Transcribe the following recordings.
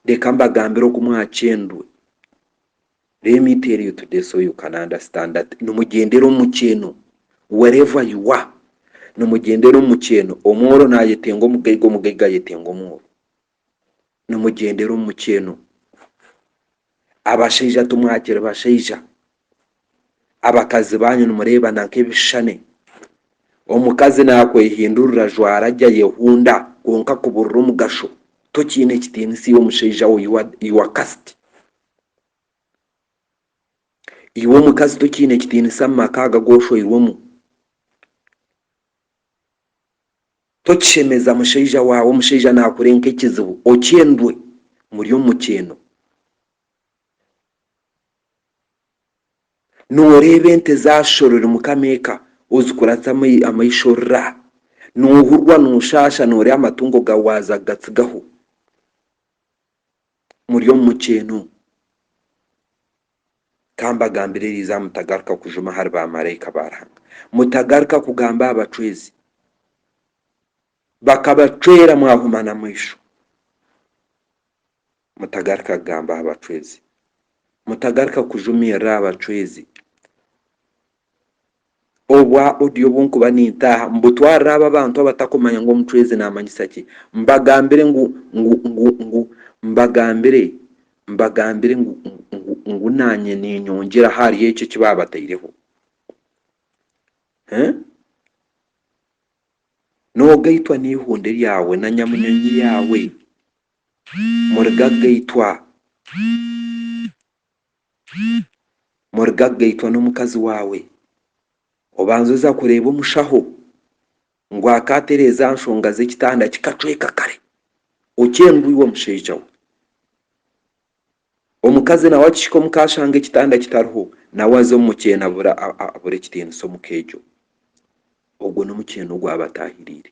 Reka mbagambire oku mwakyendwe, let me tell you today so you can understand that nimugyendera omu mukyeeno wherever you are, nimugyendera omu mukyeeno, omwooro nayetenga omugaiga, omugaiga ayetenga omwooro, nimugyendera omu mukyeeno. Abashaija timwakiri bashaija. Abakazi baanyu nimureebana nk'ebishushani. Omukazi naakwehindurira ajwara gye ayehunda kwonka kuburira omugasho tokiine kitiinisa iwe mushaija we you are cursed. Iwe omukazi tokiine kitiinisa mu maka aga agu oshoirwemu. Tokishemeza mushaija waawe, omushaija naakureeba nk'ekizibu, okyendwe, muri omu mukyeeno. Nooreeba ente zaashorwa ori mukama eka, ozikuratsa amaisho ra! Noohurwa nooshaasha nooreeba amatungo gaawe waaza kugatsigaho, muri omu mukyeeno. Ka mbagambire erizaaha mutagaruka kujuma ahari baamaraika ba Ruhanga, mutagaruka kugamba aha bacwezi bakabacwera mwahuma n'amaisho, mutagaruka kugamba aha bacwezi, mutagaruka kujumirira aha bacwezi. Obwa audio obu nkuba nintaaha mbutwarira abo abantu abatakumanya ngu omucwezi namanyisa ki. Mbagambire ngu ngu ngu ngu mbagambire mbagambire ngu ngu ngu nanye ninyongyera ahari ekyo eki babataireho. Huh? Nogaitwa neihunde ryawe na nyamunyonyi yaawe murigaga itwa. Muriga kugaitwa n'omukazi waawe. Obanza oza kureeba omushaho ngu akaatereeza aha nshonga z'ekitanda kikacweka kare okyendwa iwe omushaija we. Omukazi nawe akihika omu ka ashanga ekitanda kitariho, nawe aza omu mukyeni abura ekitiinisa omu ka egyo. Ogwo n'omukyeni ogwaba ataahiriire.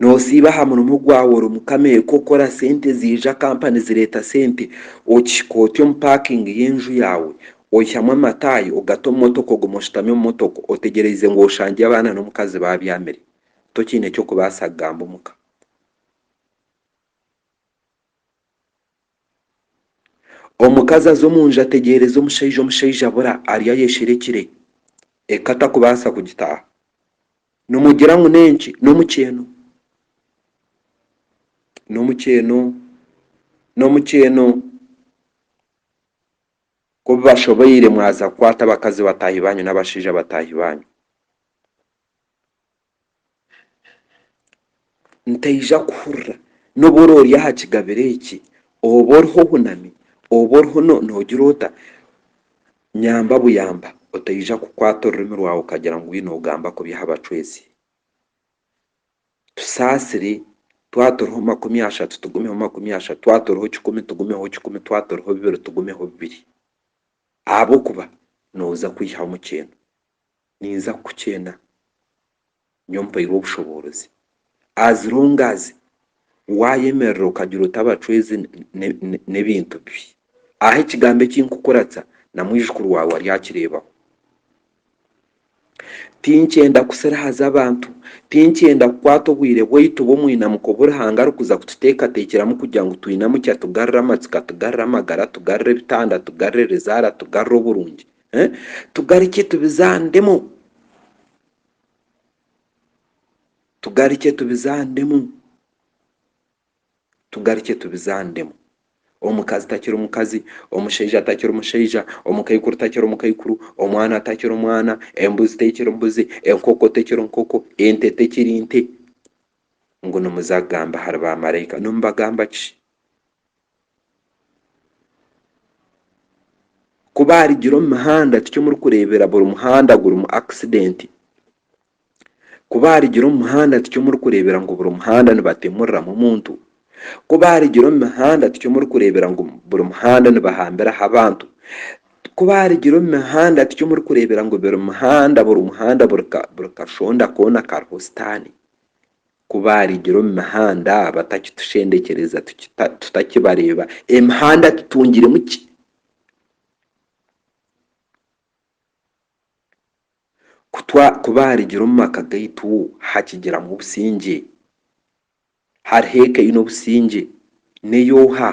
Nosiiba aha murimo gwawe ori omu kamere k'okukora sente ziija kampa nizireeta sente, okihika oti omu paakingi y'enju yaawe, oyihamu amataayi ogata omu motoka oguma oshutami omu motoka otegyereize ngu oshangye abaana n'omukazi baabyamire, tokiine ky'okubaasa kugamba omuka. Omukazi aza omu nju ategyereza omushaija, omushaija abura ari ayesherekire, eka takubaasa kugitaaha. Nimugira ngu n'enki? N'omukyeeno. N'omukyeeno, n'omukyeeno. Ku bibashoboire mwaza kukwata abakazi bataahi baanyu n'abashaija bataahi baanyu. Ntaija kuhurira n'obu orori aha kigabiro eki, oba oriho ohunami, oba oriho nogira ota, nyamba buyamba otaija kukwata orurimi rwawe okagira ngu oine ogamba kubi aha bacwezi. Tusaasire, twaba turiho makumi ashatu tugumeho makumi ashatu, twaba turiho kikumi tugumeho kikumi, twaba turiho bibiri tugumeho bibiri ahabw'okuba noza kwihamu kyena. Ninza kukukyena nyowe mpairwe obushoboorozi as long as waayemerera okagira oti abacwezi n'ebintu bibi. Aho ekigambo eki nkukuratsa na mwijukuru waawe aryakireebaho. Tinkyenda kusirihaza abantu, tinkyenda kukwata obwire bwaitu bw'omwinamiko obu Ruhanga arikuza kututeekateekyeramu kugira ngu twinamukye atugarire amatsiko, atugarire amagara, atugarire ebitanda, atugarire erizaara, atugarire oburungi. tugarikye tubizandemu tugarikye tubizandemu tugarikye tubizandemu omukazi takiri mukazi omushaija atakiri mushaija omukaikuru takiri mukaikuru omwana atakiri omwana embuzi tekiri mbuzi enkoko tekiri nkoko ente tekiri nte ngu nimuza kugamba ahari bamaraika nimubagamba ki? Ku baarugire omu muhanda tikyo murikureebera buri muhanda gurimu akisidenti. Ku baarugire omu muhanda tikyo murikureebera ngu buri muhanda nibatemuriramu omuntu. Ku baarugire omu mihanda tikyo murikureebera ngu buri muhanda nibahambiraho abantu. Ku baarugire omu mihanda tikyo murikureebera ngu buri muhanda buri muhanda buri kashonda koona kariho sitaani. Ku baarigira omu mihanda batakitushendekyereza tutakibareeba, emihanda tutungiremu ki? Ku baarigira omu maka gaitu hakigiramu obusingye? Hariho eka eine obusingye? N'ey'oha?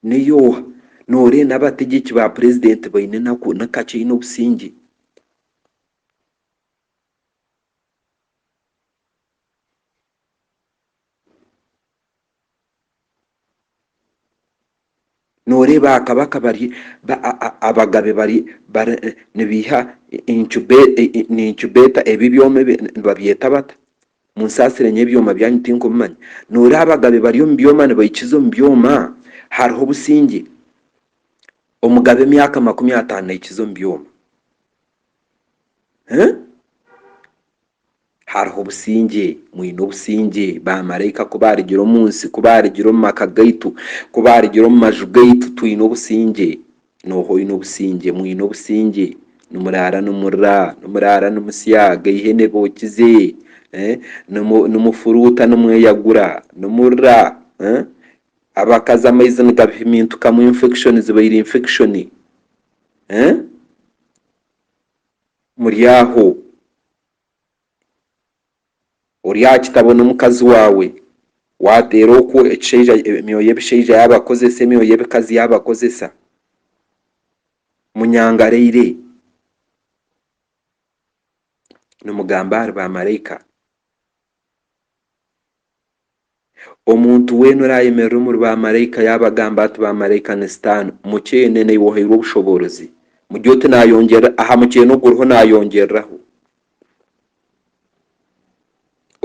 Neyooha noreenda abategyeki ba purezidenti baine enaku nikakye aine obusingye. Nooreeba aha kabaka bari abagabe bari bari nibaiha incubator ebi ebyoma ebi nibabyeta bata? Munsaasire nyowe ebyoma byanyu tinkubimanya. Nooreeba abagabe bari omu byoma nibahikiza omu byoma? Hariho obusingye? Omugabe emyaka makumi ataano nahikiza omu byoma? Eeh? Hariho obusingye, mwine obusingye, ba maraika ku baarugire omu nsi, ku baarugire omu maka gaitu, ku baarugire omu maju gaitu, twine obusingye. Nooha oine obusingye? Mwine obusingye. Nimuraara nimurira, nimuraara nimusya, aga eihene bookize, nimufuruuta nimweyagura, nimurira, abakazi amaizi nigabahimintukamu infection zibaire infection, muri aho. ori aha kitabo n'omukazi waawe, waateera okwo ekishaija, emyoyo y'ebishaija yaabakozesa, emyoyo y'ebikazi yaabakozesa, munyangareire, nimugamba ahari baamaraika. Omuntu weena oraayemerera omuri baamaraika yaabagamba ati, Baamaraika ni Sitaane, mukyeene naiwe ohairwe obushoboorozi. Mugire oti, Naayongyerera aha mukyeene oguriho naayongyereraho.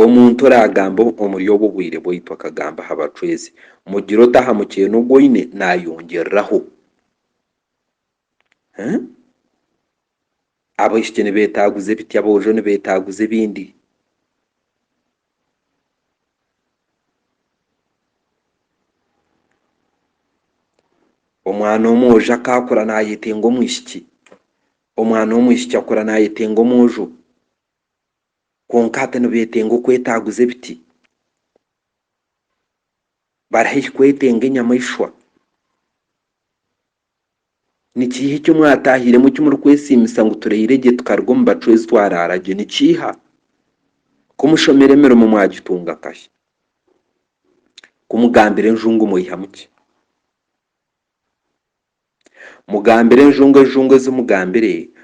Omuntu oraagamba omuri obwo bwire bwaitu akagamba aha bacwezi, Mugire oti aha mukyeene ogu oine naayongyereraho. Abaishiki nibeetaaguza ebiti aboojo nibeetaaguza ebindi. Omwana omwojo akaakura naayetenga omwishiki, omwana w'omwishiki akura naayetenga omwojo kwonka hati nibeetenga okwetaaguza ebiti. Bari haihi kwetenga enyamaishwa. Ni kiiha eki mwataahiremu eki murikwesiimisa ngu turaire gye tukaruga omu bacwezi twaraara gye? Ni kiiha? Ku mushomera emirimo mwagitunga kahi? Ku mugambira enjungu mwaihamu ki? Mugambire enjungu enjungu ezi mugambire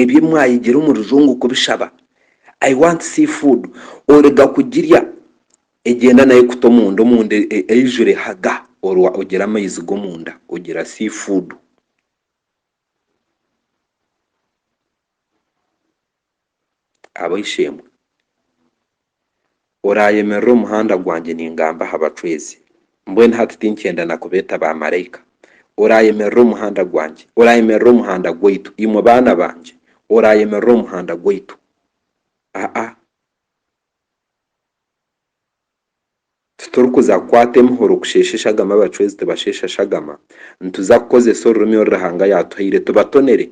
Ebyo mwayigire omu rujungu kubishaba I want see food orega kugirya egyenda nayo kuta omunda omunda eyijure haga orwa ogira amayizi gomunda ogira see food. Ab'eishe-emwe, oraayemerera omuhanda gwangye ningamba aha bacwezi, mbwenu hati tinkyenda na kubeeta baamaraika. Oraayemerera omuhanda gwangye, oraayemerera omuhanda gwaitu, imwe baana bangye, oraayemerera omuhanda gwaitu. Aa. Titurikuza kukwata emihoro kusheesha eshagama abacwezi tibasheesha shagama, nituza kukozesa orurimi oru Ruhanga yaatuhaire tubatonere,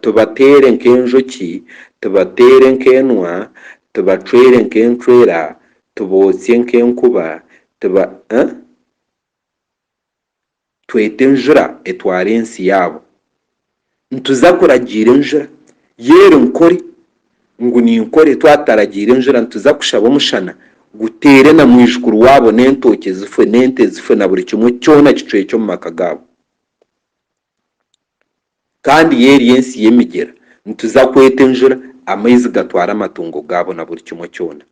tubateere nk'enjoki, tubateere nk'enwa, tubacwere nk'encwera, tubootsye nk'enkuba, tuba, eeh? twete enjura etware ensi yaabo. Nituza kuragiira enjura, yo eri nkore ngu ninkore, twataragiire enjura nituza kushaba omushana guteere na mwijukuru waabo n'entookye zifwe n'ente zifwe na buri kimwe kyona kicwekye omu maka gaabo. Kandi yo eri ensi y'emigyera, nituza kweta enjura amaizi gatware amatungo gaabo na buri kimwe kyona.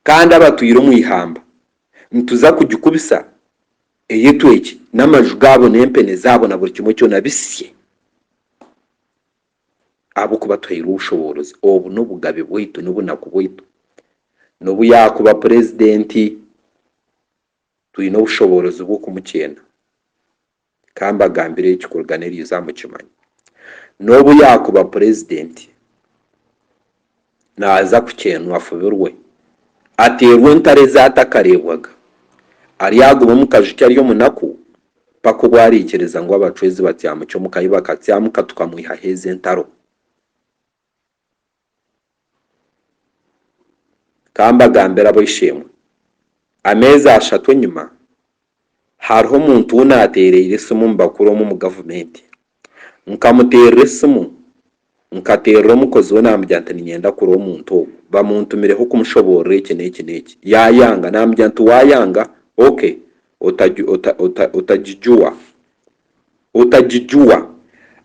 Kandi abatwire omu ihamba, nituza kugikubisa eyetwekye, n'amaju gaabo n'empene zaabo na buri kimwe kyona bisye, ahabw'okuba tuhairwe obushoboorozi. Obu n'obugabe bwaitu, n'obunaku bwaitu. N'obu yaakuba purezidenti, twine obushoboorozi bw'okumukyenda. Ka mbagambire eki kuruga n'eriizo aha mukimanya. N'obu yaakuba purezidenti, naaza kukyenwa afubirwe, ateerwe entaro ezaatakareebwaga, aryagume omu kaju ke ari omunaku mpaka obu araikiriza ngu abacwezi batyamukye omu ka yi bakatyamka tukamwihaho ezi entaro. Ka mbagambire ab'eishe-emwe, ameezi ashatu enyima, hariho omuntu ou naateereire esimu omu bakuru omwe omu gavumenti. Nkamuteerera esimu, nkateerera omukozi we naamugira nti niinyenda kurora omuntu ogwo, bamuntumireho kumushoboorora eki n'eki n'eki. Yaayanga, naamugira nti waayanga, OK, otagijuwa. Otagijuwa,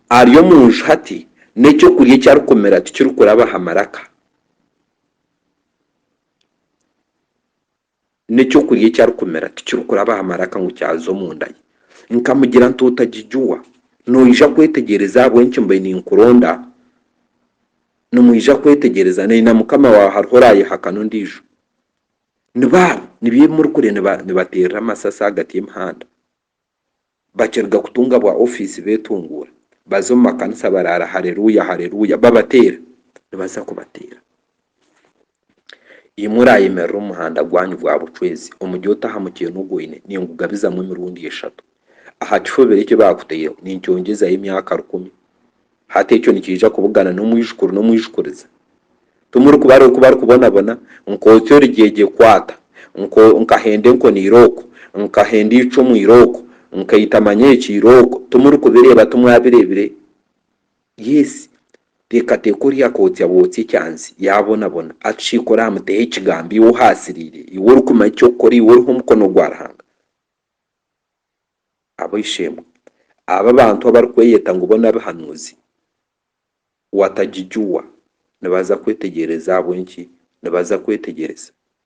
ari omu nju hati, n'eky'okurya eki arikumira tikirikuraba aha maraka. N'eky'okurya eki arikumira tikirikuraba aha maraka ngu kyaza omu nda ye. Nkamugira nti, Otagijuwa, noija kwetegyereza ahabw'enki mbaire ninkuronda, nimwija kwetegyereza, nari na mukama waawe hariho oraayehakana ondiijo. Ni baabo, nibyo ebi murikureba nibateerera amasasi ahagati y'emihanda. bakiruga kutunga bwa ofiisi beetunguura baza omu makanisa baraara Haleluya, Haleluya babateera. Nibaza kubateera. Imwe oraayemerera omu muhanda gwanyu gwa bucwezi omuri ota aha mukyeena ogu oine, ningugabizamu emirundi eshatu. Aha kifobero eki baakutaireho ninkyongyezayo emyaka rukumi. Hati ekyo nikiija kubugana n'omwijukuru n'omwijukuriza. Timurikubareba oku barikubonabona, Nkotsi origyegye kwata, nko, nkahenda enkoni irooko, nkahenda eicumu irooko, nkaita manya eki irooko. Timurikubireeba? Timwabireebire? Yes. Teekateeka ori akootsya bootsya ekyansi, yaabonabona, atushiikura aha muteho Ekigambo, iwe ohaasiriire, iwe orikumanya eky'okukora, iwe oriho omukono gwa Ruhanga. Ab'eishe-emwe aba abantu abarikweyeta ngu bo n'abihanuuzi, Watajijua, nibaza kwetegyereza. Ahabw'enki nibaza kwetegyereza?